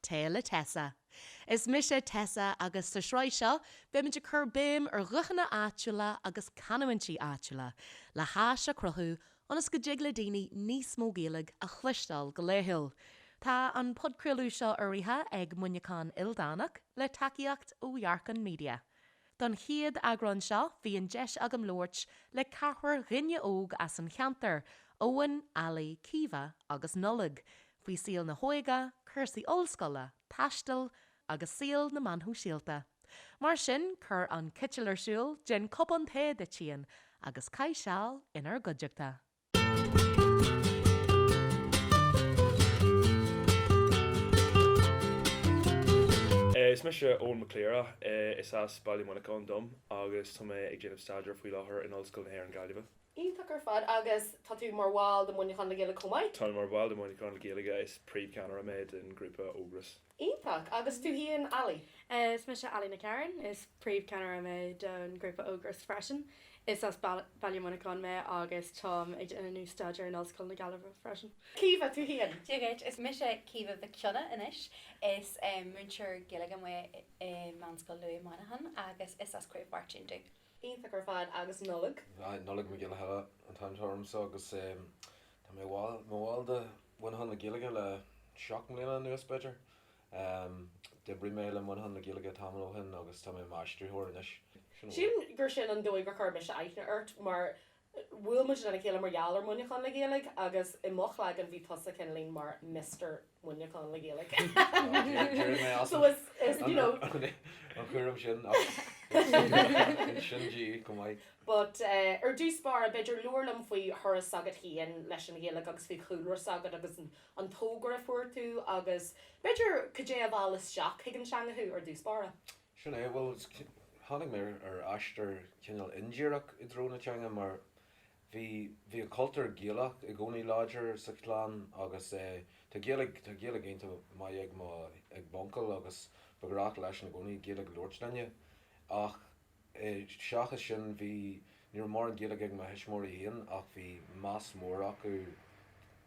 Tae le Tessa. Is mise Tessa agus sa sraith seo beimid ag cur béim ar ghuthanna áitiúla agus canúintí áitiúla le háis a chruthú ionas go dtig le daoine níos mó Gaeilge a chloisteáil go laethúil. Tá an podchraoladh seo urraithe ag Muineachán Ildánach le tacaíocht ó Dhearcán Media. Don chéad eagrán seo bhí an deis agam labhairt le ceathrar dhaoine óg as an cheantar, Eoin, Ali, Caoimhe agus Nollaig. faoi saol na hóige, cúrsaí ollscoile, taistil agus saol na meán sóisialta. Mar sin, cuir an citeal ar siúl, déan cupán tae duit féin agus caith seal inár gcuideachta. Is mise Eoin Mac Cliara, is as Baile Mhuineacháin dom agus tá mé ag déanamh staidéir faoi láthair in Ollscoil na hÉireann Gaillimhe. Iontach ar fad. Agus tá tú mar bhall de Mhuineachán le Gaeilge chomh maith? Táim mar bhall de Mhuineachán le Gaeilge, is príomhcheannaire mé den ghrúpa Ógras. Iontach. Agus tú féin Ali? Is mise Ali McCarron, is príomhcheannaire mé den ghrúpa Ógras freisin. Is as baile Mhuineacháin mé agus táim ag déanamh staidéir in Ollscoil na Gaillimhe freisin. Caoimhe, tú féin? Cé, is mise Caoimhe Mhic Cionnaith anois. Is múinteoir Gaeilge mé i Meánscoil Lughaidh i Muineachán agus is as Craobh Mháirtín domh. Iontach ar fad agus Nollaig. Aye, Nollaig Mac Giolla an t-ainm atá ormsa agus tá mé i mo bhall de Mhuineachán le Gaeilge le seacht mbliana anuas b'fhéidir. D'oibrigh mé le Muineachán le Gaeilge tamall ó shin agus tá mé i m'aistritheoir anois. Sin an dóigh. Sílim gur sin an dóigh gur chuir mise aithne ort mar Bhuail muid lena chéile mar gheall ar Mhuineachán le Gaeilge agus i mo chloigeann bhí tusa cineál mar Mister Muineachán le Gaeilge. So is, you know. An cúram sin agus sin chomh maith. But ar dtús báire, b'fhéidir, labhair liom faoi thuras s'agat féin leis an Ghaeilge agus faoi chúlra s'agat agus an tógáil a fuair tú agus, b'fhéidir, cad é a mheall isteach chuig an teanga thú ar dtús báire? Sin é. Bhuel, tháinig mé ar aistear cineál indíreach i dtreo na teanga mar bhí, bhí an cultúr Gaelach i gcónaí láidir sa chlann agus eh tá Gaeilg, tá Gaeilg iontach maith ag mo, ag m'uncail agus ba ghnách leisean i gcónaí Gaeilg a labhairt linne ach eh seachas sin bhí, ní raibh mórán Gaeilge ag mo thuismitheoirí féin ach bhí meas mór acu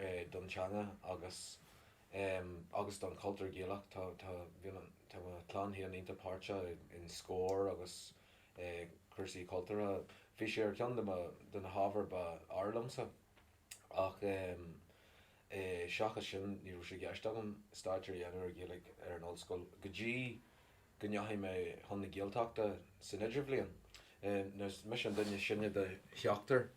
eh don teanga agus em, agus don chultúr Gaelach, tá, tá, bíonn an, tá mo chlann féin iontach páirteach i, in Scór agus i gcúrsaí cultúrtha. Bhí sé ar cheann de mo, de na hábhair ba fhearr liomsa. Ach em, eh, seachas sin, ní raibh sé i gceist agam staidéar a dhéanamh ar Ghaeilge ar an ollscoil go dtí, go ndeachaigh mé chun na Gaeltachta san idirbhliain, nuair is mise an duine sine de sheachtar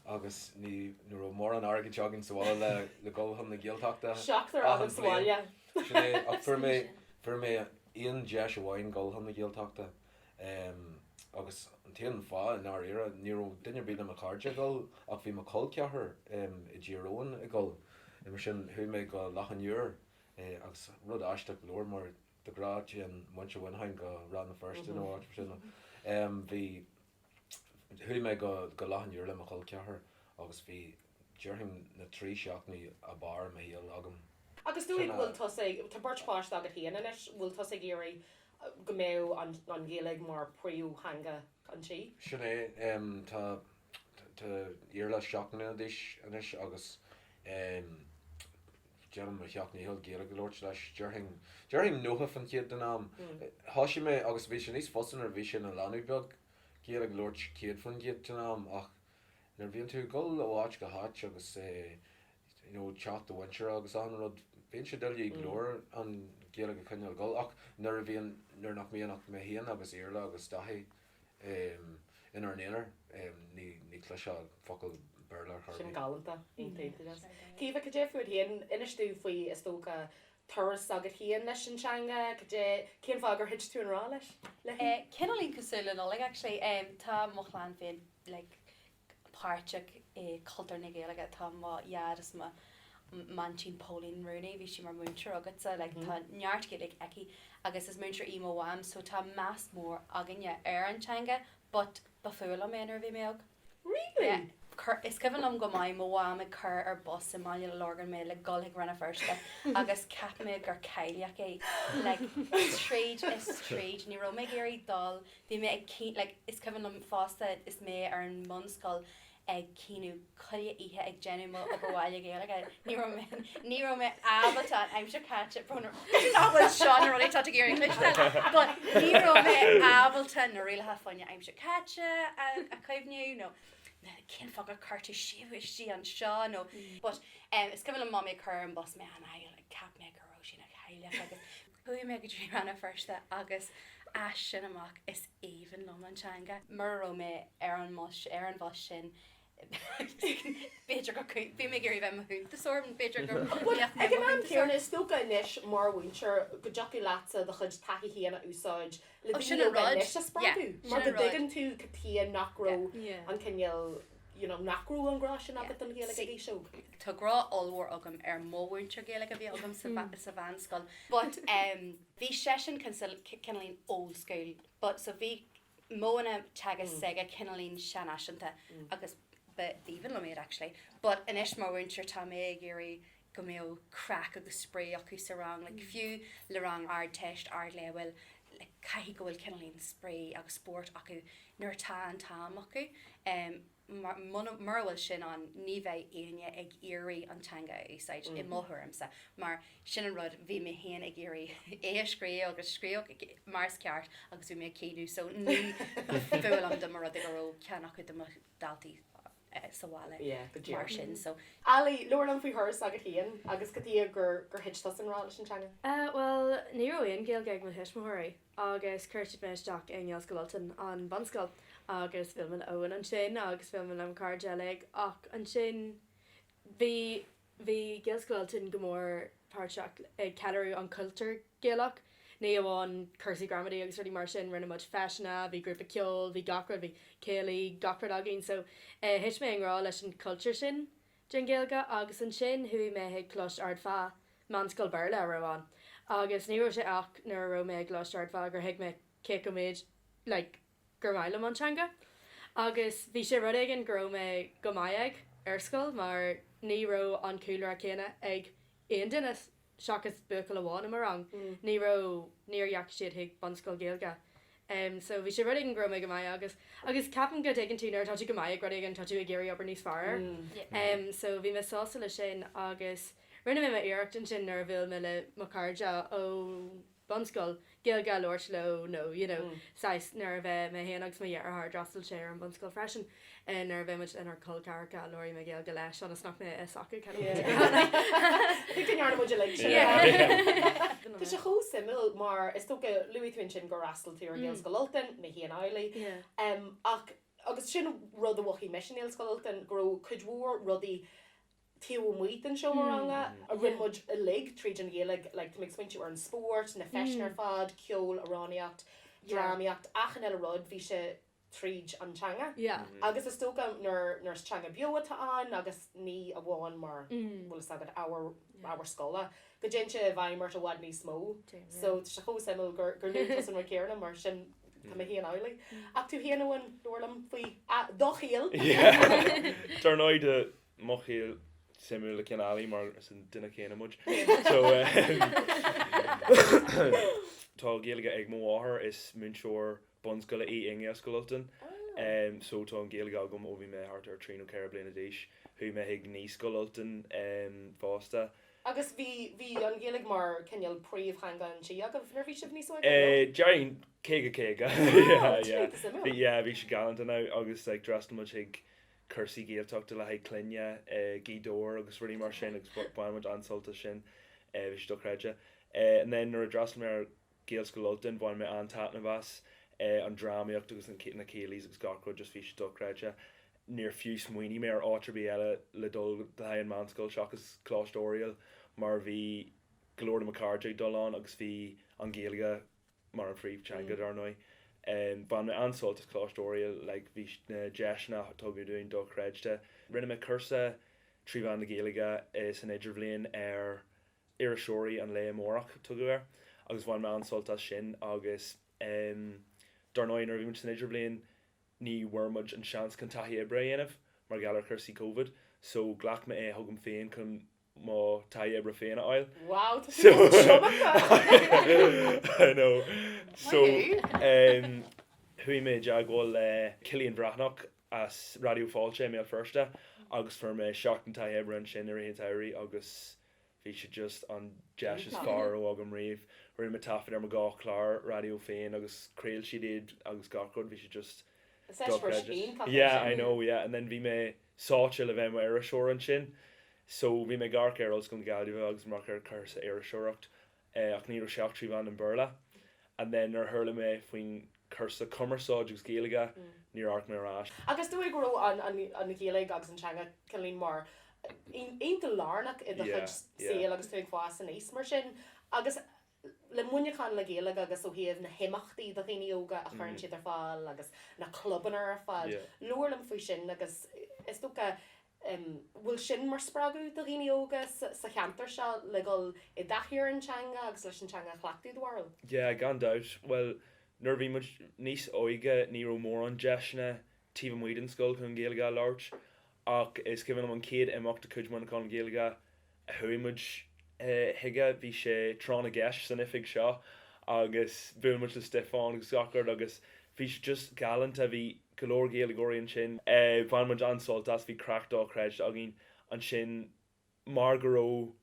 agus ní raibh mórán airgid againn sa bhaile ag dul chun na Gaeltachta achan bhliain. Sin é, ach fuair mé, fuair mé aon deis amháin dhul chun na Gaeltachta agus an t-aon fháth, i ndáiríre, ní raibh duine ar bith de mo chairde ag dhul ach bhí mo chol ceathrar i dTír Eoghain ag dhul. Mar sin, chuaigh mé go Loch an Iúir agus rud aisteach go leor nuair de ghnáth téann muintir Mhuineacháin go Rann na Feirste nó áit mar sin, bhí, chuaigh mé go, go Loch an Iúir le mo chol ceathar agus bhí, déarfainn na trí seachtainí ab fhearr i mo shaol agam. Agus an bhfuil tusa, tá beirt pháiste agat féin anois, bhfuil tusa ag iarraidh go mbeadh an, an Ghaeilge mar phríomhtheanga an tí? Sin é, tá, tá Iarla seacht mbliana d'aois anois agus Déanaim mo sheacht ndícheall Gaeilge a labhairt leis, déarfainn, déarfainn nócha faoin gcéad den am. Thoisigh mé, agus bhí sé níos fusa nuair a bhí sé ina leanbh beag, Gaeilge a labhairt céad faoin gcéad den am, ach nuair a bhíonn tú ag dul ó áit go háit agus é, you know, teach do mhuintire agus achan rud, bíonn sé doiligh go leor an Ghaeilge a choinneáil ag dul, ach nuair a bhíonn, nuair nach mbíonn ach mé féin agus Iarla agus Daithí, inár n-aonar. Ní chluinfeá focal Béarla ar chor ar bith. Sin galánta. Aontaím faoi sin. Caoimhe, cad é fút féin? Inis dúinn faoi, is dócha, turas s'agat féin leis an teanga. Cad é, cén fáth gur thit tú i ngrá leis, léi? Cineáilín cosúil le Nollaig, actually. Tá mo chlann féin, like, páirteach i gcultúr na Gaeilge tá mo Dhaid is m'aintín Pauline Rooney, bhí sí mar mhúinteoir agatsa, like tá neart Gaeilge aici agus is múinteoir í mo Mham so tá meas mór againne ar an teanga but ba fuath liom é nuair a bhí mé óg. Really? Yeah. Cur, is cuimhin liom go maith mo Mham ag cur ar bus i mBaile na Lorgan mé le dhul chuig Rann na Feirste agus cheap mé gur cailleach í like tríd is tríd, ní raibh mé ag iarraidh dul Bhí mé ag, like, is cuimhin liom fosta is mé ar an mbunscoil ag caoineadh chuile oíche ag déanamh m'obair bhaile Gaeilge, ní raibh mé, ní raibh mé ábalta an aimsir chaite, brón orm, nach bhfuil seo na rudaí atá tú ag iarraidh cloisteáil, but ní raibh mé ábalta na rialacha faoin aimsir chaite a, a chuimhniú nó na, cén focal a chuir tú síos istigh anseo nó, but, em, is cuimhin liom Mamaí ag cur ar an bus mé an, like, cheap mé go raibh sí ina chailleach agus, Chuaigh mé go dtí Rann na Feirste agus as sin amach is aoibhinn liom an teanga. Mura raibh mé ar an mbus ar an bhus sin b'fhéidir go, bhí mé ag iarraidh a bheith i mo chuntasóir, b'fhéidir go mbeadh mé i mo chuntasóir. Ag an am céanna, is dócha anois mar mhúinteoir go dtiocfadh leatsa do chuid taithí féin a úsáid le daoine óga anois a spreagadh mar go dtuigeann tú cad chuige nach raibh an cineál, you know nach raibh an grá sin agat don Ghaeilge ag aois óg? Tá grá ollmhór agam do mo mhúinteoir Gaeilge a bhí agam sa sa mheánscoil but em bhí seisean cineáilín old school but so bhí modhanna teagaisc s'aige cineáilín seanfhaiseanta agus b'aoibhinn liom iad actually but anois mar mhúinteoir tá mé ag iarraidh go mbeadh craic agus spraoi acu sa rang, like fiú le rang Ardteist, Ardleibhéil, like caithfidh go bhfuil cineáilín spraoi agus spóirt acu nuair atá an t-am acu. Em, mar, muna, mura bhfuil sin ann, ní bheidh éinne ag iarraidh an teanga a úsáid, i mo thuairimse, mar sin an rud, bhí mé féin ag iarraidh é a scríobh agus scríobhadh mar is ceart agus bhí mé ag caoineadh so ní, ba mhaith liom a rud go raibh ceann acu de mo daltaí, sa bhaile mar sin. Ali, labhair liom faoi thuras s'agat féin agus cad é an dóigh gur thit tusa i ngrá leis an teanga? Bhuel, ní raibh aon Ghaeilge ag mo thuismitheoirí agus chuir siad mé isteach i nGaelscoil Ultain, an bunscoil, agus b'aoibhinn liom ansin agus bhuail mé le mo chairde uilig ach ansin bhí. Bhí Gaelscoil Ultain go mór páirteach ag ceiliúradh an cultúr Gaelach, ní amháin cúrsaí gramadaí agus rudaí mar sin, rinne muid feiseanna, bhí grúpa ceoil, bhí gach rud, bhí céilí, gach rud againn so thit mé i ngrá leis an chultúr sin den Ghaeilge agus ansin chuaigh mé chuig Clochar Ard Feá, meánscoil Béarla a raibh ann agus ní raibh sé ach nuair a raibh mé i gClochar Ard Feá gur thuig mé cé chomh méid like, gur maith liom an teanga agus bhí sé rud éigin go raibh mé go maith aig ar scoil mar ní raibh an cúlra céanna ag aon duine seachas buachaill amháin i mo rang, ní raibh, níor dheachaigh siad chuig bunscoil Ghaeilge. em so bhí sé rud éigin go raibh mé go maith aige, agus ceapaim go dtuigeann tú nuair atá tú go maith ag rud éigin tá tú ag iarraidh obair níos fearr air. Em so bhí mé sásta leis sin agus rinne mé iarracht ansin nuair a bhuail mé le mo chairde ó. bunscoil, Gaeilge a labhairt leo nó you know saghas, nuair a bheith mé féin agus mo dheartháir, d'fhreastail sé ar an bhunscoil freisin, eh nuair a bheith muid lenár col ceathracha, labhraíodh mé Gaeilge leis ionas nach mbeadh a fhios acu cad a bhí á rá like I think go ndearna muid uilig sin yeah yeah yeah Tá sé chomh suimiúil mar is dócha luaigh tú ansin gur fhreastail tú ar Ghaelscoil Ultain, mé féin amhlaidh, em ach agus sin rud a mhothaigh mise i nGaelscoil Ultain go raibh cuid mhór rudaí taobh amuigh den seomra ranga, a rinne muid uilig tríd an Ghaeilge, like tá mé ag smaointiú ar an spórt, na feiseanna ar fad, ceol, amhránaíocht, drámaíocht, achan eile rud, bhí sé tríd an teanga. Agus is dócha nuair nuair is teanga beo atá ann agus ní amháin mar bhfuil fhios agat ábhar ábhar scoile, go dtéann sé i bhfeidhm ort i bhfad níos mó. So tá sé chomh suimiúil gur gur luaigh tú an rud céanna mar sin tá mé féin amhlaidh. Ach tú féin Eoin, labhair liom faoi do shaol! Dar ndóigh, Mothaíl suimiúil le Cineálaigh mar is an duine céanna muid. So tá Gaeilge ag mo mháthair, is múinteoir bunscoile í i nGaelscoil Ultain. Eh, so tá an Ghaeilge agam ó bhí mé thart ar trí nó ceithre bliana d'aois. Chuaigh mé chuig Naíscoil Ultain, em, fosta. Agus bhí, bhí an Ghaeilge mar cineál príomhtheanga an tí agaibh nuair a bhí sibh níos óige, nó? Eh, déarfainn caoga caoga. Yeah, yeah. Bhí, yeah, bhí sí galánta now agus like, d'fhreastail muid chuig cúrsaí Gaeltachta le haghaidh clainne i nGaoth Dobhair agus rudaí mar sin agus bhain muid an-sult as sin. Bhí sé dochreidte. And then nuair a d'fhreastail mé ar Ghaelscoil Ultain bhain mé an-taitneamh as, an drámaíocht agus na céilí's agus gach rud just bhí sé dochreidte. Níor fiú smaoinigh mé ar áit ar bith eile le dul le haghaidh an mheánscoil seachas Coláiste Oiriall mar bhí go leor de mo chairde ag dul ann agus bhí an Ghaeilge, mar an phríomhtheanga, dar ndóigh. Bhain mé an-sult as Coláiste Oiriall, like bhí na deiseanna a tugadh dúinn dochreidte. Rinne mé cúrsa trí mheán na Gaeilge san idirbhliain ar iriseoirí an lae amárach, tugadh air, agus bhain mé an-sult as sin. Agus em dar ndóigh, nuair a bhí muid san idirbhliain ní bhfuair muid an seans chun taithí oibre a dhéanamh mar gheall ar chúrsaí Covid, so ghlac mé é chugam féin chun mo taithí oibre féin a fháil. Wow, tá sé chomh tiomanta! I know. So, em, chuaigh mé i dteagmháil le Cillian Breathnach as Raidió Fáilte i mBéal Feirste agus fuair mé seachtain taithí oibre ansin i rith an tsamhraidh agus bhí sé just an deis is Iontach. fearr a raibh agam riamh. Rinne mé taifead ar mo dhá chlár raidió féin agus chraol siad iad agus gach rud, bhí sé just Is eispéireas dochreidte. iontach é Yeah, I sin. know, yeah. And then bhí mé sáite le bheith i mo iriseoir ansin. So bhí mé ag amharc ar Ollscoil na Gaillimhe agus ag amharc ar chúrsa iriseoireacht ach ní raibh sé ach trí mheán an Bhéarla. And then nuair a chuala mé faoin cúrsa cumarsáid agus Gaeilge níor amharc mé ar ais. Agus is dóigh go raibh an Ghaeilge agus an teanga cineál mar aon iontach lárnach i do chuid saoil agus tú ag fás aníos mar sin agus le Muineachán le Gaeilge agus ó thaobh na himeachtaí do dhaoine óga a chuireann siad ar fáil agus na clubanna ar fad. Labhair liom faoi sin agus is dócha bhfuil sin mar spreagadh do dhaoine óga sa cheantar seo le dhul i dtaithí ar an teanga agus leis an teanga a chleachtadh, do bharúil? Yeah, gan dabht. Bhuel, nuair a bhí muid níos óige ní raibh mórán deiseanna taobh amuigh den scoil chun Gaeilge a labhairt Ach is cuimhin liom an chéad imeacht de chuid Mhuineacháin le Gaeilge a chuaigh muid chuige. Bhí sé tráth na gceist san oifig seo agus bhuail muid le Stiofán agus gach rud agus bhí sé just galánta. Bhí go leor Gaeilgeoirí ansin. Bhain muid an-sult as, bhí craic dochreidte againn ansin mar go raibh,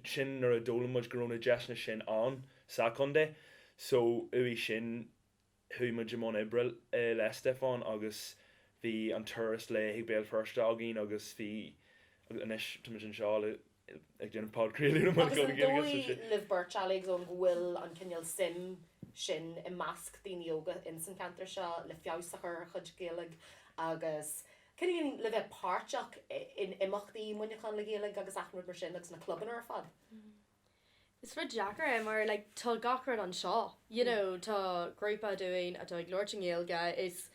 sin nuair a d'fhoghlaim muid go raibh na deiseanna sin ann sa chontae so uaidh sin chuaigh muid i mbun oibre le Stiofán agus bhí an turas lae chuig Béal Feirste againn agus bhí agus anois tá muid anseo ag déanamh podchraoladh amach as Gaeilge, so sin. libh beirt, Alex, an bhfuil an cineál suim sin i measc daoine óga in san cheantar seo le feabhas a chur ar a chuid Gaeilge agus cineál le bheith páirteach in imeachtaí Muineachán le Gaeilge agus achan rud mar sin agus na clubanna ar fad? Is rud deacair é mar like tá gach rud anseo you know tá grúpa dúinn atá ag labhairt Gaeilge, is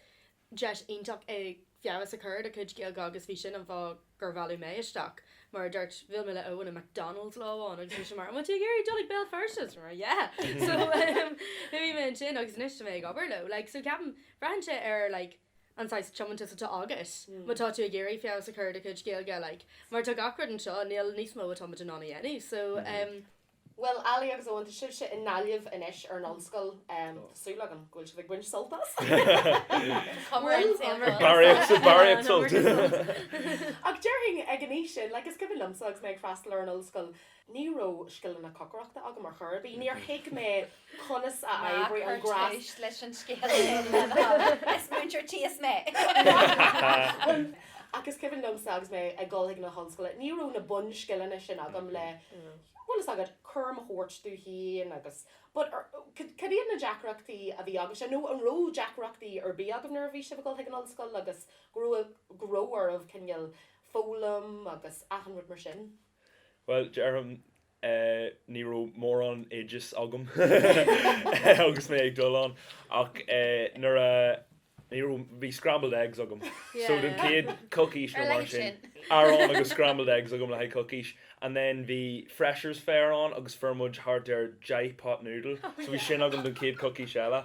deis iontach é feabhas a chur ar do chuid Gaeilge agus bhí sin an fáth gur mealladh mé isteach. Mar a dúirt, bhuail mé le Eoghan i McDonald's lá amháin agus bhí sé mar an bhfuil tú ag iarraidh dul chuig Béal Feirste? Is mar yeah! So, em, bhí mé ansin agus anois tá mé ag obair leo. Like so ceapaim, braitheann sé ar like, an saghas tiomantas atá agat má tá tú ag iarraidh feabhas a chur ar do chuid Gaeilge, like, mar tá gach rud anseo, níl níos mó atá muid in ann a dhéanamh, so em. Bhuel, Ali agus Eoghan, tá sibhse i nGaillimh anois ar an ollscoil, em, tá súil agam go bhfuil sibh ag baint sult as. Barraíocht, barraíocht sult! Ach déarfainn, ag an aois sin, like, is cuimhin liomsa agus mé ag freastal ar an ollscoil, Ní raibh scileanna cocaireachta agam ar chor ar bith. Níor thuig mé conas a oibríonn an gás. Ná cuir tús leis an scéal sin, lena thaobh. Is múinteoir tíos mé! Agus is cuimhin liomsa agus mé ag dul chuig na hollscoile, ní raibh na bunscileanna sin agam le, bhfuil fhios agat, cúram a thabhairt dom féin agus but, cad iad na deacrachtaí a bhí agaibhse nó an raibh deacrachtaí ar bith agaibh nuair a bhí sibh ag dul chuig an ollscoil agus go raibh, go raibh oraibh cineál foghlaim agus achan rud mar sin? Bhuel, déarfainn, ní raibh mórán oideas agam agus mé ag dul ann, ach nuair a, ní raibh, bhí scrambled eggs agam, so don chéad coicís nó mar sin, bhí arán agus scrambled eggs agam le haghaidh coicís, and then bhí freshers fair ann agus fuair muid thart ar deich pot noodle, so bhí sin agam don chéad coicís eile.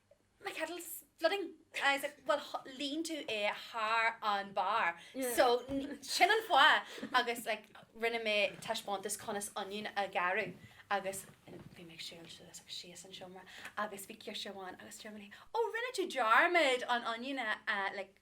my kettle's flooding. I was like, well, líon tú é thar an barr. So, sin an fáth. Agus, like, rinne mé taispeántas conas onion a ghearradh. Agus, bhí mé ag siúl suas agus síos an seomra. Agus bhí girseach amháin agus dúirt mé, oh, rinne tú dearmad an onion a, like,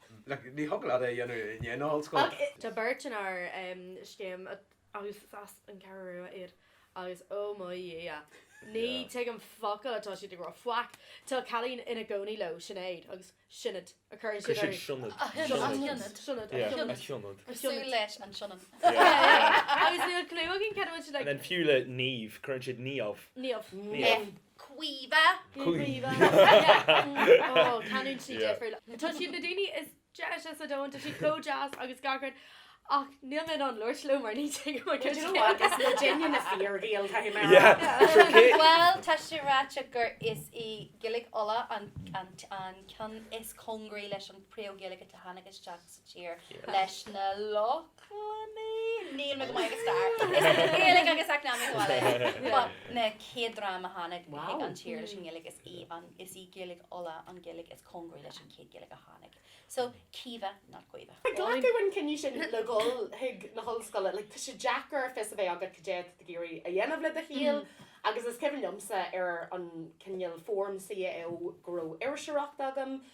Ní thig leat é a dhéanamh in aon ollscoil. Tá beirt inár seomra agus is as an gCeathrú Rua iad agus oh mo Dhia, ní tuigim focal atá siad ag rá. Faic. Tá cailín ina cónaí leo, Sinéad, agus Sionad a chuireann siad uirthi. Sionad. Sionad. Cosúil leis an Sionainn. Agus níl clue againn cad a bhfuil siad ag. Fiú le Niamh, cuireann siad Niamh. Niamh. Caoimhe. Caoimhe. Oh, canúint sí difriúil. Tá siad ar na daoine is deise sa domhan, tá siad chomh deas agus gach rud. Ach níl mé in ann labhairt leo mar ní te go But you know what? It's the genuine of fear of eel time. Yeah. Sure, Kate. Well, tá sé ráite gur is í Gaeilge Uladh an, an, an ceann is cóngaraí leis an príomh-Ghaeilge a tháinig isteach sa tír leis na Lochlannaigh, níl mé go maith ag stair. Gaeilge agus eacnamaíocht bhaile. An chéad dream a tháinig chuig an tír leis an nGaeilge, is í an, is í Gaeilge Uladh an Ghaeilge is cóngaraí leis an chéad Ghaeilge a tháinig. So, Caoimhe, not Caoimhe. Ag glacadh an chinnidh sin le ghabháil chuig na hollscoile, like, tá sé deacair fios a bheith agat cad é atá tú ag iarraidh a dhéanamh le do shaol agus is cuimhin liomsa ar an cineál form CAO go raibh iriseoireacht agam,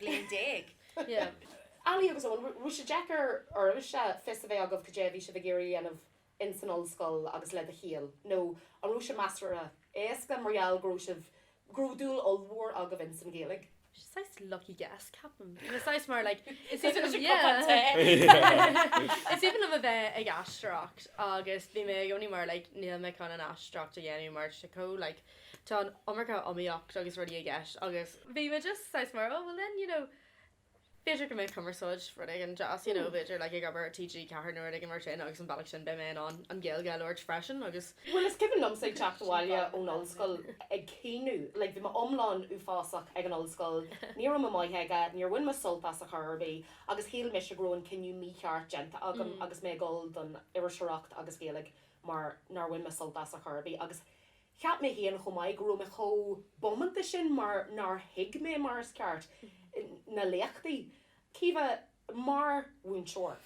bliain déag. Ali agus Eoin, raibh sé deacair oraibhse fios a bheith agaibh cad é a bhí sibh ag iarraidh a dhéanamh ins an ollscoil agus le do shaol? Nó an raibh sé measartha éasca mar gheall go raibh sibh, go raibh dúil ollmhór agaibh ins an Ghaeilge? Saghas lucky guess, ceapaim. Nó saghas mar like, is aoibhinn liom, yeah. Is even of a bheith ag aisteoireacht agus bhí mé i gcónaí mar like níl mé chun an aisteoireacht a dhéanamh mar tá sé chomh like, Tá an iomarca iomaíocht agus rudaí i gceist agus. bhí mé just saghas mar oh well then you know b'fhéidir go mbeadh cumarsáid rud éigin deas you know b'fhéidir like ag obair i TG4 nó rud éigin mar sin agus an bealach sin beidh mé in ann an Ghaeilge a labhairt freisin agus Bhuel is cuimhin liomsa ag teacht abhaile ón ollscoil ag caoineadh like bhí mé iomlán uafásach ag an ollscoil, ní raibh mé maith aige, níor bhain mé sult as a chor ar bith agus shíl mise go raibh an cinneadh mícheart déanta agam agus mé ag gabháil don iriseoireacht agus Gaeilge mar nár bhain mé sult as a chor ar bith agus Cheap mé féin chomh maith go raibh mé chomh bómánta sin mar nár thuig mé mar is ceart na léachtaí. Caoimhe, mar mhúinteoir,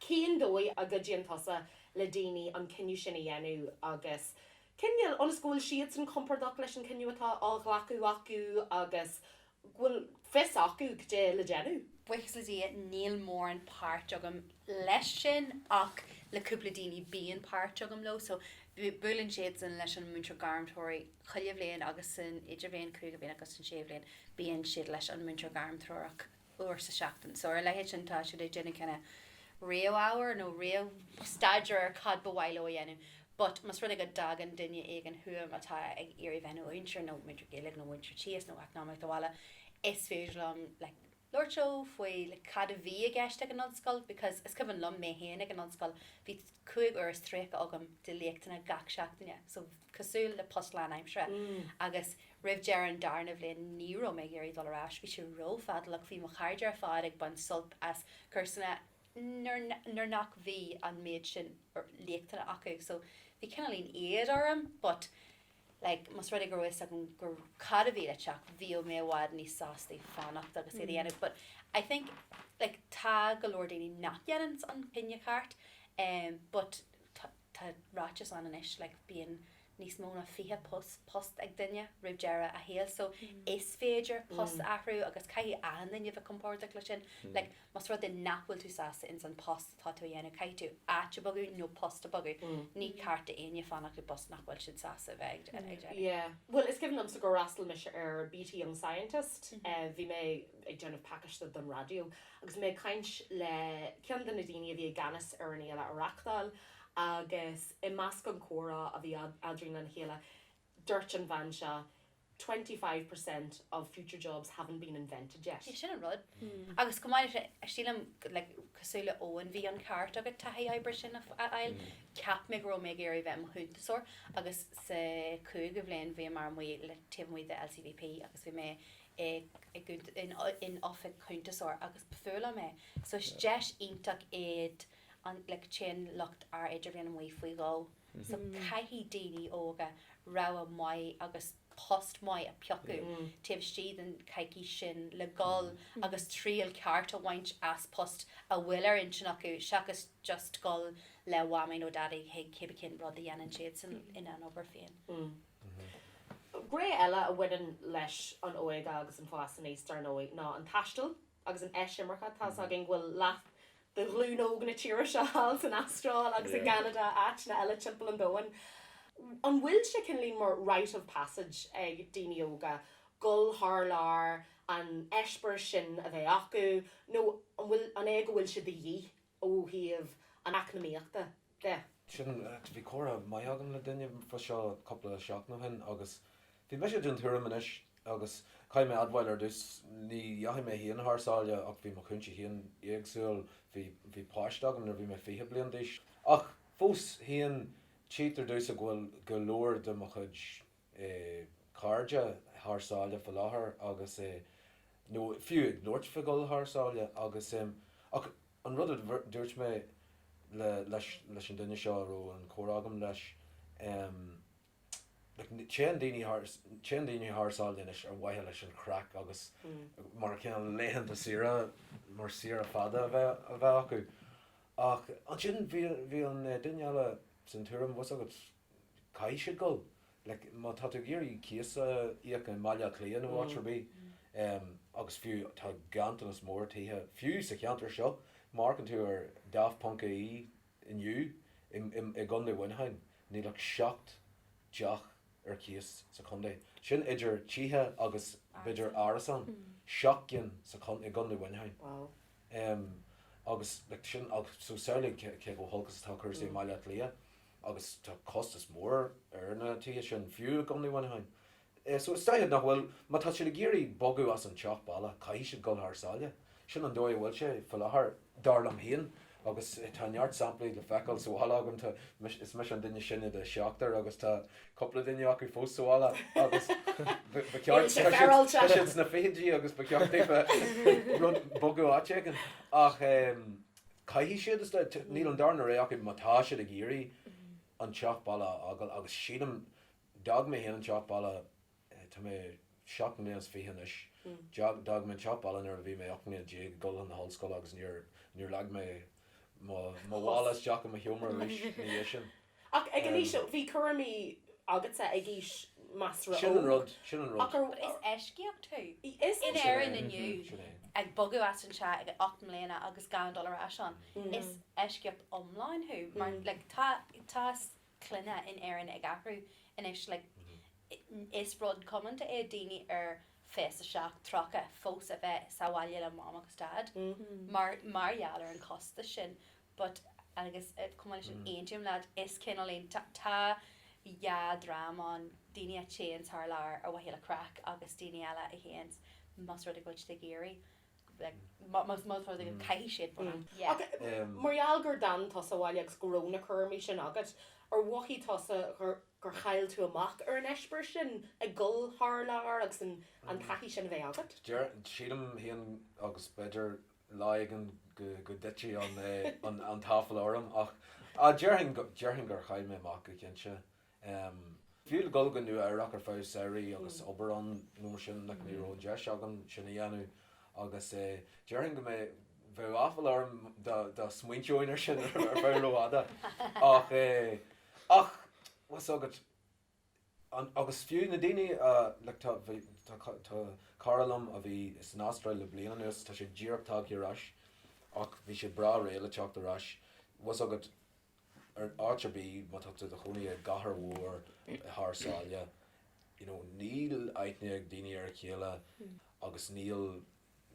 cén dóigh a gcuidíonn tusa le daoine an cinneadh sin a dhéanamh agus, cinntiú ionas go bhfuil siadsan compordach leis an chinneadh atá á ghlacadh acu agus go bhfuil fios acu cad é le déanamh. Buíochas le Dia níl mórán páirt agam leis sin ach le cúpla daoine bíonn páirt agam leo so buaileann siadsan leis an múinteoir gairmthreorach chuile bhliain agus san idirbhliain, cúigiú bliain agus san séú bliain, bíonn siad leis an múinteoir gairmthreorach uair sa tseachtain so ar a leithéid sin tá siad ag déanamh kinda réamh-ábhar nó réamh-staidéar ar cad ba mhaith leo a dhéanamh. But más rud é go dtagann duine éigin chugam atá ag iarraidh bheith ina mhúinteoir, nó múinteoir Gaeilge, nó múinteoir tíos, nó eacnamaíocht bhaile, is féidir liom, like, labhairt leo faoi, like, cad a bhí i gceist ag an ollscoil, because is cuimhin liom, mé féin ag an ollscoil, bhí cúig uair is tríocha agam de léachtanna gach seachtaine, so, cosúil le post lánaimseartha, agus roimh deireadh an darna bhliain, ní raibh mé ag iarraidh dul ar ais, bhí sé ró-fhadálach, bhí mo chairde ar fad ag baint sult as cúrsaí, nuair nach bhí an méid sin léachtanna acu so bhí cineál leadrán orm but like más rud é go raibh fhios agam go cad a bhí le teacht bhíodh mé i bhfad níos sástaí fanacht agus é a dhéanamh but I think like tá go leor daoine nach dhéananns an cinneadh ceart em but tá Tá ráiteas ann anois, like, bíonn níos mó ná fiche post, post ag duine roimh deireadh a shaoil so is féidir post a athrú agus caithfidh achan duine bheith compordach le sin. Like, más rud é nach bhfuil tú sásta ins an post atá tú a dhéanamh caithfidh tú áit a bhogadh nó post a bhogadh. Ní ceart do éinne fanacht i bpost nach bhfuil siad sásta a bheith ag. Yeah. Bhuel, is cuimhin liomsa gur fhreastail mise ar BT Young Scientist, bhí mé ag déanamh pacaiste don raidió Agus mé ag caint le ceann de na daoine a bhí i gceannas ar an fhéile a reachtáil, agus i measc an comhrá a bhí eadrainn lena chéile, dúirt an bhean seo, Twenty five per cent of future jobs haven't been invented yet. Sin an rud. Agus chomh maith leis sin, sílim, like, cosúil le Eoin, bhí an ceart agat taithí oibre sin a fháil. Cheap mé go raibh mé ag iarraidh bheith i mo chuntasóir agus sa chúigiú bhliain bhíomar amuigh le, taobh amuigh den LCVP agus bhí mé in oifig cuntasóra agus ba fuath liom é so is deis iontach í, like téann lucht ár idirbhliana amuigh faoi dhó so caithfidh daoine óga rogha maith agus post maith a phiocadh taobh istigh den choicís sin le dhul agus triail ceart a bhaint as post a bhfuil ar intinn acu seachas just dhul le mamaí nó daidí chuig cibé cén rud a dhéanann siadsan ina n-obair féin. Gné eile a bhaineann leis an óige agus an fás aníos, dar ndóigh, ná an taisteal agus an eisimirce. Tá's againn go bhfuil leath de ghlúin óg na tíre seo thall san Astráil agus i gCeanada, áiteanna eile timpeall an domhain. An bhfuil sé, cineál mar 'rite of passage' ag daoine óga dul thar lear, an eispéireas sin a bheith acu, nó an é go bhfuil sé de dhíth ó thaobh an eacnamaíochta de. Sin, bhí comhrá maith agam le duine fa seo cúpla seachtain ó shin agus bhí mise den tuairim anois, agus caithfidh mé admháil ar dtús, ní dheachaigh mé féin thar sáile ach bhí mo chúinsí féin éagsúil, bhí, bhí páiste agam nuair a bhí mé fiche bliain d'aois, ach fós féin tchítear domhsa go bhfuil go leor de mo chuid cairde thar sáile faoi láthair agus nó fiú ag labhairt faoi dhul thar sáile agus em. Ach an rud a dúirt mé le, leis, leis an duine seo a raibh an comhrá agam leis, em. Like téann daoine thar, téann daoine thar sáile anois ar mhaithe leis an chraic agus mar cineál laethanta saoire, mar saoire fada a bheith, a bheith acu. Ach ansin bhí, bhí an duine eile den tuairim, bhfuil 's agat, caithfidh siad dul. like má tá tú ag iarraidh cíos a íoc i mBaile Átha Cliath nó áit ar bith em agus fiú tá ganntanas mór tithe fiú sa cheantar seo amharcann tú ar Daft ponc ie inniu i i gContae Mhuineacháin níl ach seacht dteach ar cíos sa chontae sin idir tithe agus b'fhéidir árasán seacht gcinn sa i gContae Mhuineacháin wow em agus like sin ach so samhlaigh cé chomh holc is atá cúrsaí i mBaile Átha Cliath. agus tá costas mór ar na tithe sin, fiú i gContae Mhuineacháin. So is dóiche nach bhfuil, má tá siad ag iarraidh bogadh as an teach baile, caithfidh siad dul thar sáile. Sin an dóigh a bhfuil sé fá láthair, dar liom féin, agus tá neart samplaí le feiceáil sa bhaile agam, tá, is mise an duine sine de sheachtar agus tá cúpla duine acu fós sa bhaile agus ba cheart, tá siad sna fichidí agus ba cheart daofa rud, bogadh áit éigin ach. Caithfidh siad, is dóigh. Níl an darna rogha acu má tá siad ag iarraidh an teach baile a fhágáil agus sílim, d'fhág mé féin an teach baile, tá mé seacht mbliana is fiche anois, d'fhág mé an teach baile nuair a bhí mé ocht mbliana déag ag dul chun na hollscoile agus níor leag mé mo mhála isteach i mo sheomra arís ina dhiaidh sin. Ach ag an aois seo, bhí cúraimí agatsa ag aois measartha óg. Sin an rud, sin an rud. Is eisceacht thú. Is é. Sin é, in Éirinn inniu, sin é. ag bogadh as an teach ag ocht mbliana agus gan dul ar ais ann, is eisceacht iomlán thú mar like tá, tá clanna in Éirinn ag athrú anois like is rud comónta é daoine ar fiche a seacht, tríocha fós a bheith sa bhaile le Mom agus Dad mar, mar gheall ar an chostas sin. but agus chomh maith leis sin aontaím leat, is cineál ann, tá, tá dhá dhream ann, daoine a téanns thar lear ar mhaithe le craic agus daoine eile a théanns más rud é go bhfuil siad ag iarraidh, like, má, más, más rud é go caithfidh siad bheith ann, yeah. Ach mar gheall gur d'fhan tusa abhaile agus go raibh na cúraimí sin agat, ar mhothaigh tusa gur, gur chaill tú amach ar an eispéireas sin, ag dul thar lear agus an, an taithí sin a bheith agat? Deir, sílim, fhéin agus b'fhéidir lá éigin go dtitfidh an t-áifeala orm, ach déarfainn gur chaill mé amach go cinnte. Fiú le dul go Nua Eabhrach ar feadh samhraidh agus obair ann nó mar sin, like ní raibh an deis agam sin a dhéanamh, agus déarfainn go mbeidh, bheadh áifeala orm dá smaointeoinn air sin ar feadh rófhada. Ach, ach, bhfuil 's agat. Agus fiú na daoine, tá cara liom a bhí san Astráil le bliain anuas, tá sé díreach tagtha ar ais ach bhí sé breá réidh le teacht ar ais, bhfuil 's agat, áit ar bith, má tá tú i do chónaí i gcathair mhór thar sáile, you know, níl aithne ag daoine ar a chéile agus níl,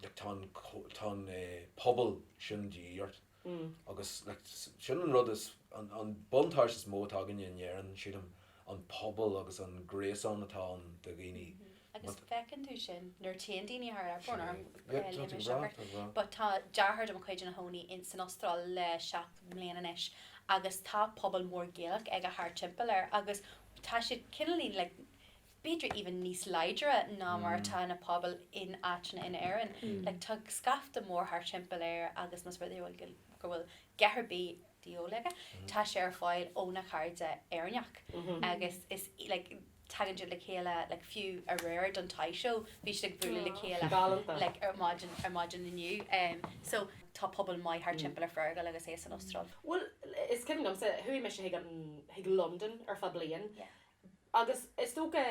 like tá an pobal sin de dhíth ort agus like sin an rud is an an buntáiste is mó atá againne in Éirinn sílim an pobal agus an gréasán atá ann de dhaoine Agus feiceann tú sin nuair a théann daoine thar lear fosta, but tá deartháir de mo chuid ina chónaí ins an Astráil le seacht mbliana anois agus tá pobal mór Gaelach aige thart timpeall air agus tá siad cineál like b'fhéidir even níos láidre ná mar atá na pobail in áiteanna in Éirinn. Like tá scaifte mór thart timpeall air agus más rud é go bhfuil, go bhfuil a dhath ar bith de dhíobháil air, tá sé ar fáil óna chairde Éireannacha agus is like tagann siad le chéile like fiú aréir don toy show bhí siad ag bualadh le chéile Galanta. like ar maidin, ar maidin inniu em so tá pobal maith thart timpeall ar Fergal agus é san Astráil. Bhuel is cuimhin liomsa, chuaigh mise chuig an, chuig Londain ar feadh bliain Yeah. Agus is dócha,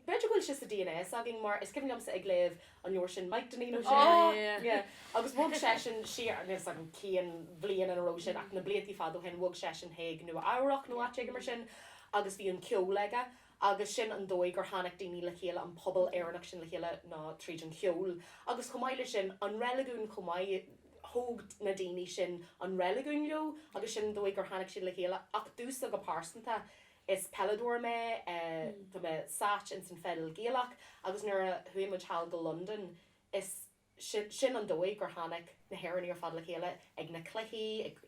b'fhéidir go bhfuil sé sa dna s'againn, mar is cuimhin liomsa ag léamh an leabhair sin Maidhc Dainín Ó Sé, agus bhog seisean siar, níl 'fhios agam cén bhliain a raibh sin ach na bliantaí fada ó shin, bhog seisean chuig Nua Eabhrach nó áit éigin mar sin agus bhí an ceol aige agus sin an dóigh gur tháinig daoine le chéile, an pobal Éireannach sin le chéile ná tríd an cheol. Agus chomh maith leis sin, an reiligiún chomh maith, thóg na daoine sin an reiligiún leo agus sin an dóigh gur tháinig siad le chéile ach domhsa go pearsanta, Is peileadóir mé. Tá mé sáite ins an pheil Ghaelach agus nuair a chuaigh muid sall go Londain, is, sin, sin an dóigh gur tháinig na hÉireannaigh ar fad le chéile, ag na cluichí, ag,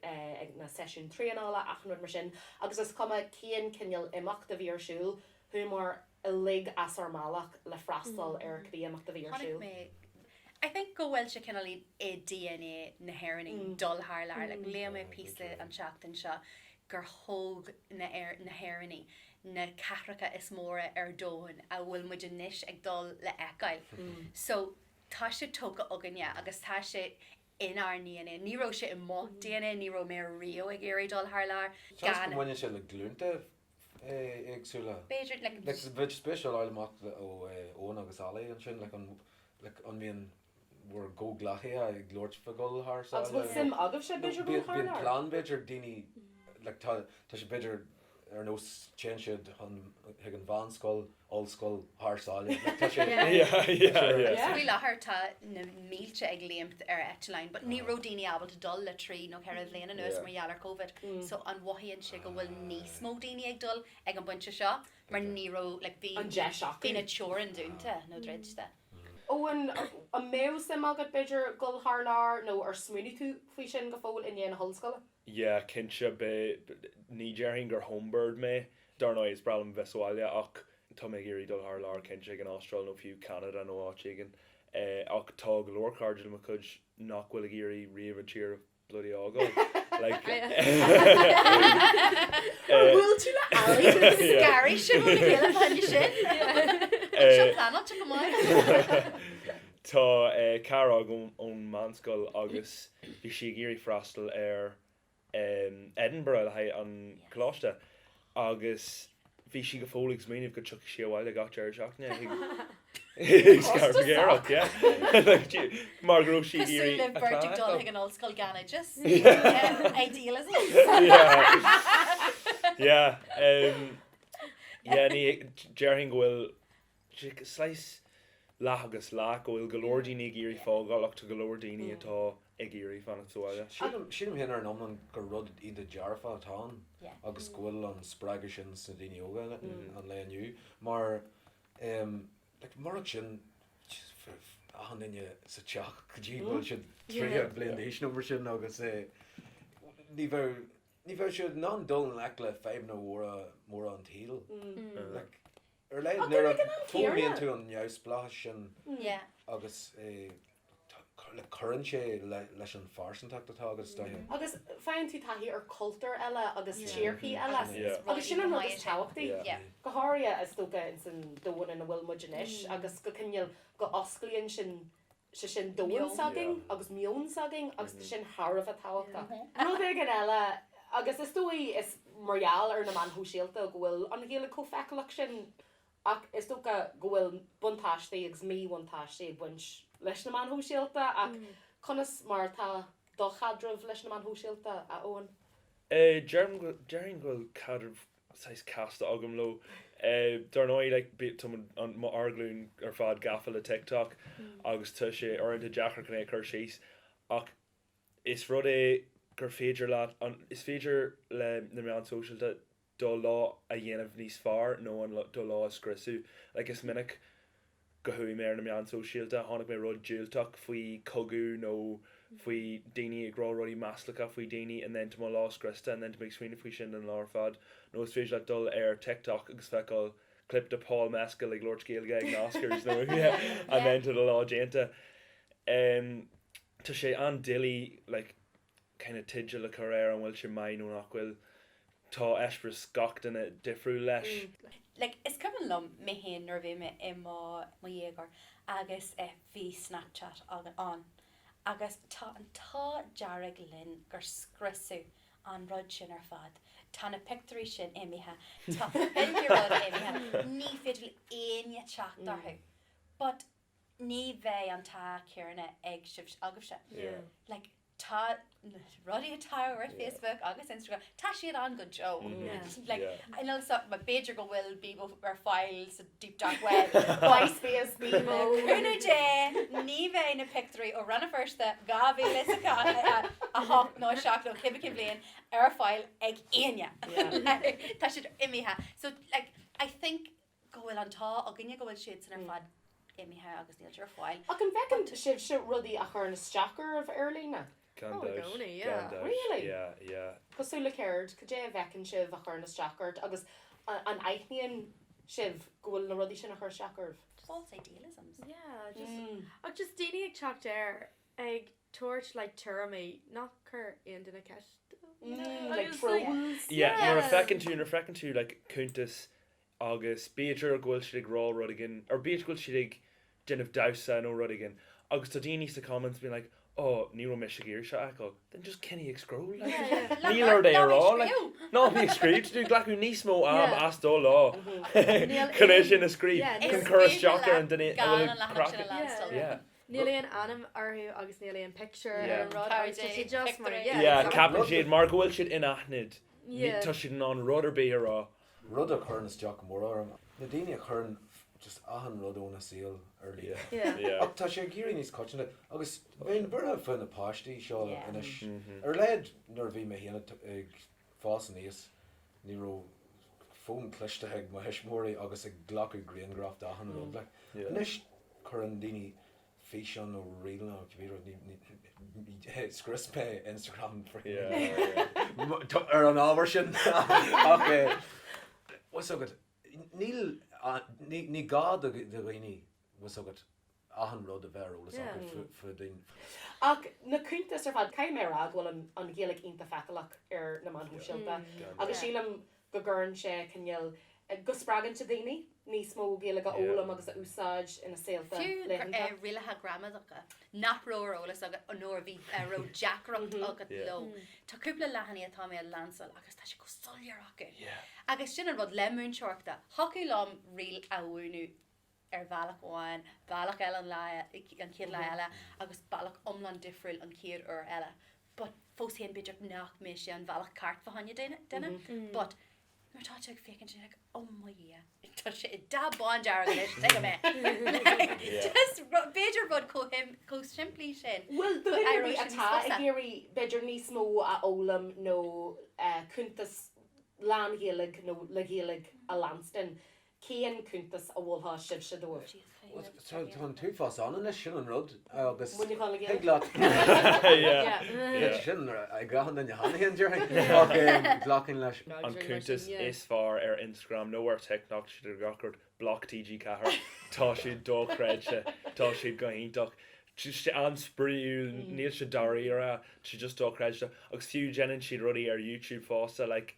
ag na seisiúin traenála, achan rud mar sin agus is cuma cén cineál imeacht a bhí ar siúl, chuamar uilig as ár mbealach le freastal ar cibé imeacht a bhí ar siúl. I think go bhfuil sé cineál i dna na hÉireannaigh dul thar lear. Like léigh mé píosa an tseachtain seo gur thóg na hÉireannaigh na cathracha is mó ar domhan a bhfuil muid anois ag dul le feiceáil. So tá sé tógtha againne agus tá sé inár ndna. Ní raibh sé i mo dna, ní raibh mé riamh ag iarraidh dul thar lear. Seans go mbaineann sé le glúnta éagsúla. B'fhéidir go mbeadh sé spéisiúil a fháil amach ó Eoin agus Ollie ansin, an mbíonn bhur gcomhghleacaithe ag labhairt faoi dhul thar sáile? Agus bhfuil suim agaibhse b'fhéidir dhul thar lear? Bíonn plean b'fhéidir daoine, tá sé b'fhéidir ar nós téann siad chuig an mheánscoil, ollscoil, thar sáile. Like tá sé Yeah. Yeah, tá sé yeah, ar yeah. So faoi láthair tá na mílte ag léimt ar eitleáin but ní raibh daoine ábalta dul le trí nó ceithre bhliain anuas Yeah. mar gheall ar Covid. So mothaíonn sé go bhfuil níos mó daoine ag dul ag an bpointe seo mar ní raibh like bhí an deis acu. bhí na teorainneacha dúnta nó druidte. Eoin, an mbeadh suim agat b'fhéidir dul thar lear nó ar smaoinigh tú faoi sin go fóill i ndiaidh na hollscoile? Yeah, cinnte, beidh, ní déarfainn gur homebird mé Dar ndóigh, is breá liom a bheith sa bhaile, ach tá mé ag iarraidh dul thar lear, cinnte, chuig an Astráil nó fiú Ceanada nó áit éigin. Ach tá go leor cairde de mo chuid nach bhfuil ag iarraidh riamh an tír a bhloody fhágáil, like. Tá cara agam ón meánscoil agus bhí sí ag iarraidh freastal ar Edinburgh le haghaidh an choláiste agus bhí sí go fóill ag smaoineamh go dtiocfadh sí abhaile gach deireadh seachtaine chuig Scarbhagéireacht mar go raibh sí ag iarraidh a clann a fheiceáil. Déarfainn go bhfuil Is saghas leath agus leath, go bhfuil go leor daoine ag iarraidh fágáil ach tá go leor daoine atá ag iarraidh fanacht sa bhaile. Sílim féin ar an iomlán gur rud iontach dearfach atá ann agus go bhfuil an spreagadh sin sna daoine óga an lae inniu mar murach sin bheadh achan duine sa teach go dtí go bhfuil siad tríocha bliain d'aois nó mar sin agus ní bheadh siad in ann dul i ngleic le fadhbanna mhóra an tsaoil. Ar leith, nuair a fógraíonn tú an neamhspleáchas sin agus cuireann sé leis an phearsantacht atá agat, is dóigh. Agus faigheann tú taithí ar chultúir eile agus tíorthaí eile. Agus sin an rud is tábhachtaí. Go háirithe, is dócha, ins an domhan ina bhfuil muid anois agus go cineál go osclaíonn sin sé sin domhan s'againn agus meon s'againn agus sin thar a bheith tábhachtach. Rud éigin eile, agus is dóigh is mar gheall ar na meáin shóisialta go bhfuil an Ghaeilge chomh feiceálach sin, ach is dócha go bhfuil buntáistí agus míbhuntáistí ag baint leis na meáin shóisialta, ach conas mar atá do chaidreamh leis na meáin shóisialta, a Eoin? Déarfainn go bhfuil caidreamh saghas casta agam leo. Dar ndóigh, like, bíonn, tuigim, an, ár nglúin ar fad gafa le TikTok agus tá sé uaireanta deacair chun é a chur síos ach is rud é gur féidir leat an, is féidir le na meáin shóisialta do lá a dhéanamh níos fearr nó an, do lá a scriosadh. Like, is minic go chuaigh mé ar na meáin shóisialta, tháinig mé rud diúltach faoi chogadh nó faoi daoine ag rá rudaí maslacha faoi daoine and then tá mo lá scriosta and then tá mé ag smaoineamh faoi sin don lá ar fad. Nó is féidir leat dul ar TikTok agus feiceáil clip de Paul Mescal ag labhairt Gaeilge ag na Oscars nó and then tá do lá déanta. Tá sé an-doiligh like. cineál teidil a chur air, an bhfuil sé maith nó nach bhfuil. Tá eispéireas gach duine difriúil leis. Like, is cuimhin liom mé féin nuair a bhí mé i mo, mo dhéagóir agus eh bhí Snapchat ann agus tá an t-ádh dearg linn gur scriosadh an rud sin ar fad. Tá na pictiúirí sin imithe, tá filteacha imithe, ní féidir le éinne teacht orthu. But. ní bheidh an t-ádh céanna agaibhse. like tá na rudaí atá ar Facebook agus Instagram tá siad ann go deo. like I know so b'fhéidir go bhfuil Bebo ar fáil sa deep dark web MySpace Bebo cúnamh Dé ní bheidh na pictiúirí ó Rann na Feirste 2008 nó 7 nó cibé cén bhliain ar fáil ag éinne. tá siad imithe so like I think go bhfuil an t-ádh againne go bhfuil siadsan ar fad imithe agus níl siad ar fáil. Ach an bhfeiceann sibhse rudaí a chuireann isteach oraibh ar líne? Gan Oh, i dabht, gcónaí, gan yeah. dabht, Really? yeah, yeah. Cosúil le céard? Cad é a bhfeiceann sibh a chuireann isteach ort agus an aithníonn sibh go bhfuil na rudaí sin ag cur isteach oraibh? False idealisms. Yeah, just, Mm. ach just daoine ag teacht ar, ag tabhairt like tuairimí nach cur aon duine ceist, you know? Mm, like Agus, like, trolls? Yeah, yeah. nuair a feiceann tú, nuair a feiceann tú like cuntas agus b'fhéidir go bhfuil siad ag rá rud éigin, or b'fhéidir go bhfuil siad ag déanamh damhsa nó rud éigin agus tá daoine sna comments being like oh ní raibh mise ag iarraidh seo a fheiceáil, then just coinnigh ag scroll like, níl ort é a rá like, ná bí ag scríobh tá tú ag glacadh níos mó am as do lá chun é sin a scríobh, chun cur isteach ar an duine atá ag craic, yeah. Níl aon ainm orthu agus níl aon picture ar an rud agus tá siad just mar, yeah, ceapann siad mar go bhfuil siad inaithnid, tá siad in ann rud ar bith a rá. rud a chuireann isteach go mór orm ná daoine a chuireann just achan rud óna saol ar líne. Ach tá sé ag éirí níos coitianta agus bheinn buartha faoi na páistí seo anois. Ar a laghad nuair a bhí mé féin ag fás aníos ní raibh fón cliste ag mo thuismitheoirí agus ag glacadh grianghraf d'achan rud. Anois cuireann daoine Físeán ó rialta, bhuel, scrios mé Instagram ar an ábhar sin, tá a fhios agat, níl, ní gá do dhaoine, tá a fhios agat, achan rud a bheith ar eolas acu faoi daoine. Ach na cuntais ar fad, caithfidh mé a rá go bhfuil an Ghaeilge iontach feiceálach ar na meáin shóisialta agus sílim go gcuireann sé cineál, go spreagann sé daoine níos mó Gaeilge a fhoghlaim agus a úsáid ina saolta laethanta. Fiú rialacha gramadacha nach raibh ar eolas agat nó a bhí a raibh deacracht agat leo, tá cúpla leathanaigh atá mé a leanstan agus tá sé go soiléir acu. Agus sin an rud le múinteoireacht, thiocfadh liom riail a mhúineadh, ar bhealach amháin, bealach eile an chéad lá eile agus bealach iomlán difriúil an chéad uair eile. But fós féin b'fhéidir nach mbeidh sé an bhealach ceart fá choinne duine but nuair atá tú ag féachaint tú like oh mo Dhia, tá sé i dtaobh bán dearg anois, tuigim é. Like just ru- b'fhéidir rud chomh him- chomh simplí sin. Bhuel do duine ar bith atá ag iarraidh b'fhéidir níos mó a fhoghlaim nó cuntas lán-Ghaeilge nó le Gaeilge a leanstan, Cén cuntas a mholfadh sibhse dóibh? Tá an t-uafás ann anois, sin an rud, agus thig leat sin a ghearradh de, nach féidir linn? Glacaim leis. An cuntas is fearr ar Instagram nó ar TikTok, tá siad ar gach ardán, Bloc TG4, tá siad dochreidte, tá siad go hiontach, tá siad an-spraíúil, níl siad dáiríre, tá siad just dochreidte, agus fiú déanann siad rudaí ar YouTube fosta, like.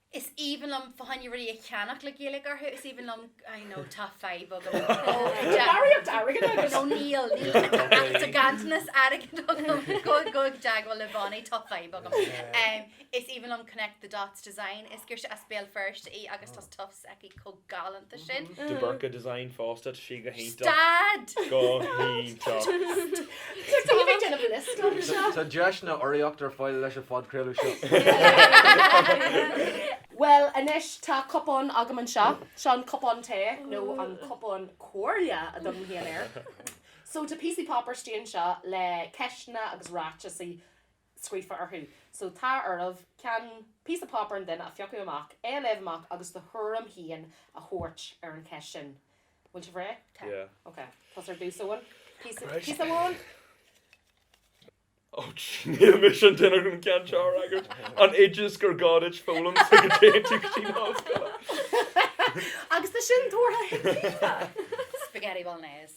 Is aoibhinn liom féin rudaí a cheannach le Gaeilge orthu. Is aoibhinn liom, I know, tá fadhb agam. Barraíocht airgid agam. No, níl, níl. Tá ganntanas airgid agam. Gabh i dteagmháil le mBéal, tá fadhb agam. Is aoibhinn liom Connect the Dots Design. Is girseach as Béal Feirste í agus tá stuff s'aici. chomh galánta sin. De Burca design fosta, tá sí go hiontach. Stad! Go hiontach. Stad! Bhí mé ag déanamh list anseo. Tá deiseanna urraíochta ar fáil leis an phodchraoladh seo. Bhuel anois, tá cupán agam anseo. Seo an cupán tae, nó an cupán comhairle a thugaim féin air. So tá píosaí páipéir istigh anseo le ceisteanna agus ráiteasaí scríofa orthu so tá oraibh ceann, píosa páipéir an duine a phiocadh amach, é a léamh amach agus do thuairim féin a thabhairt ar an cheist sin. Bhfuil sibh réidh? Tá. Yeah. OK. Tusa ar dtús, Eoin. Píosa amháin? Och, níl mise an duine chun an ceann seo a fhreagairt. An t-oideas gur gá duit foghlaim sula dtéann tú go dtí an ollscoil. Agus tá sin tabhartha ag Caoimhe! Spaghetti bolognese.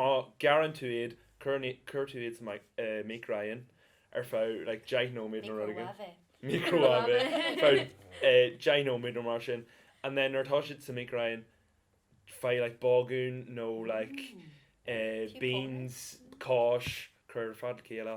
má ghearrann tú iad, cuireann tú iad sa mhícreathonn ar feadh like deich nóiméad nó rud éigin, microwave, ar feadh deich nóiméad nó mar sin and then nuair atá siad sa mhícreathonn, faigh like bágún nó like beans, cáis, cuir ar fad le chéile.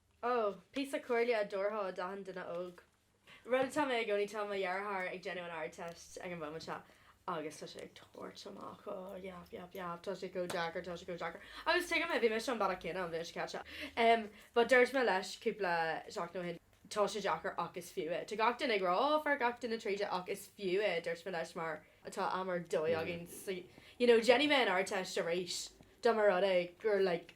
Ó, píosa comhairle a thabharfá d'achan duine óg. Rud atá mé i gcónaí, tá mo dheartháir ag déanamh an Ardteist ag an mhóimint seo agus tá sé ag tabhairt amach, ó, yap, yap, yap, tá sé chomh deacair, tá sé chomh deacair. Agus tuigim é, bhí mise an bealach céanna an bhliain seo caite. Em, but dúirt mé leis cúpla seachtain ó shin, tá sé deacair ach is fiú é. Tá gach duine ag rá, ó, faigheann gach duine tríd é ach is fiú é, a dúirt mé leis, mar tá am ar dóigh againn sa, you know, dhéanfainn an Ardteist arís dá mba rud é gur like,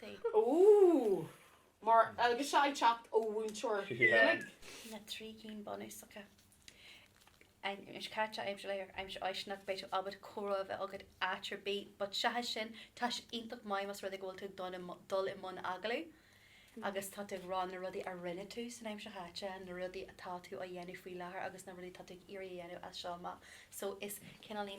They. Ooh! Mar agus seo ag teacht ó mhúinteoir Yeah. Fhiannaigh. na trí cinn bunúsacha. Aimsir chaite, aimsir láithreach, aimsir fháistineach, beidh tú ábalta comhrá a bheith agat áit ar bith but seachas sin tá sé iontach maith más rud é go bhfuil tú ag dul i mo- dul i mbun agallamh agus tá tú ag rá na rudaí a rinne tú san aimsir chaite na rudaí atá tú á dhéanamh faoi láthair agus na rudaí atá tú ag iarraidh a dhéanamh as seo amach so is cineál ní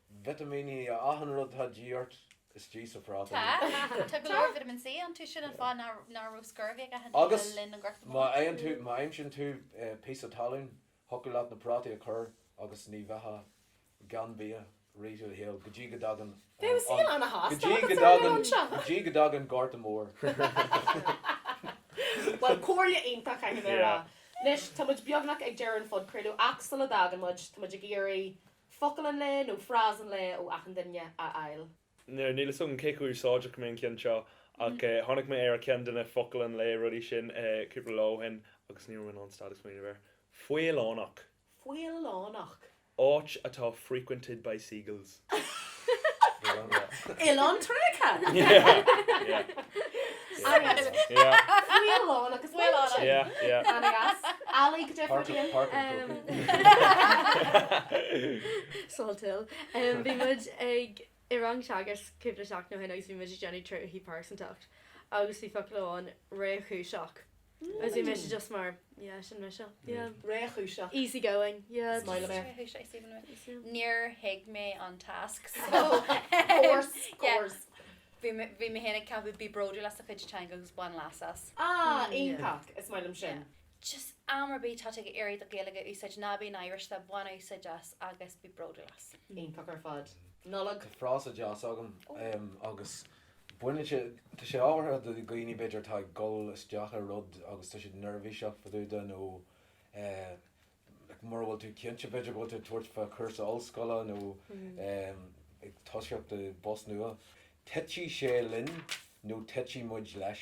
vitimíní achan rud atá de dhíth ort istigh sa phráta Tá, úd. tá go leor vitamin C ann, so sin an fáth ná ná raibh scurvy ag éinne le linn an Ghorta Mhóir. Agus má fhaigheann tú, má aimsíonn tú píosa talún, thiocfadh leat na prátaí a chur agus ní bheifeá gan bia i rith do shaoil go dtí go dtagann an, Bheadh saol ana-shásta agat ansan. go dtí go dtagann, go dtí go dtagann Gorta Mór. Bhuel, comhairle iontach caithfidh mé a rá. Yeah. Anois, tá muid beagnach ag deireadh an phodchraoladh ach sula dtagann muid, tá muid ag iarraidh focal an lae nó frás an lae ó achan duine a fháil. Níl fhios agam cé chomh úsáideach go mbeidh an ceann seo ach tháinig mé ar cheann de na focal an lae rudaí sin cúpla lá ó shin agus ní raibh mé in ann stad ag smaoineamh air. Faoileánach. Faoileánach. Áit atá frequented by seagulls. Oileán Trinidad. Faoileánach agus faoileánach. Bhí muid ag i rang teagaisc cúpla seachtain ó shin agus bhí muid ag déanamh tréithe pearsantacht agus bhí focal amháin réchúiseach. Níor thuig mé an tasc so bhí mé féin ag ceapadh 'Bí bródúil as do chuid teanga agus bain leas as'. Ah, iontach! Is maith liom sin. Just am ar bith atá tú ag iarraidh do Ghaeilge a úsáid, ná bí náirithe, bain úsáid as agus bí bródúil as. Iontach ar fad. Nollaig. Tá frása deas agam agus. Baineann sé, tá sé ábhartha do dhaoine, b'fhéidir, atá ag dul isteach i rud agus tá siad neirbhíseach fadúda nó mura bhfuil tú cinnte, b'fhéidir go bhfuil tú ag tabhairt faoi chúrsa ollscoile nó ag toiseacht i bpost nua. Titfidh sé linn nó titfidh muid leis.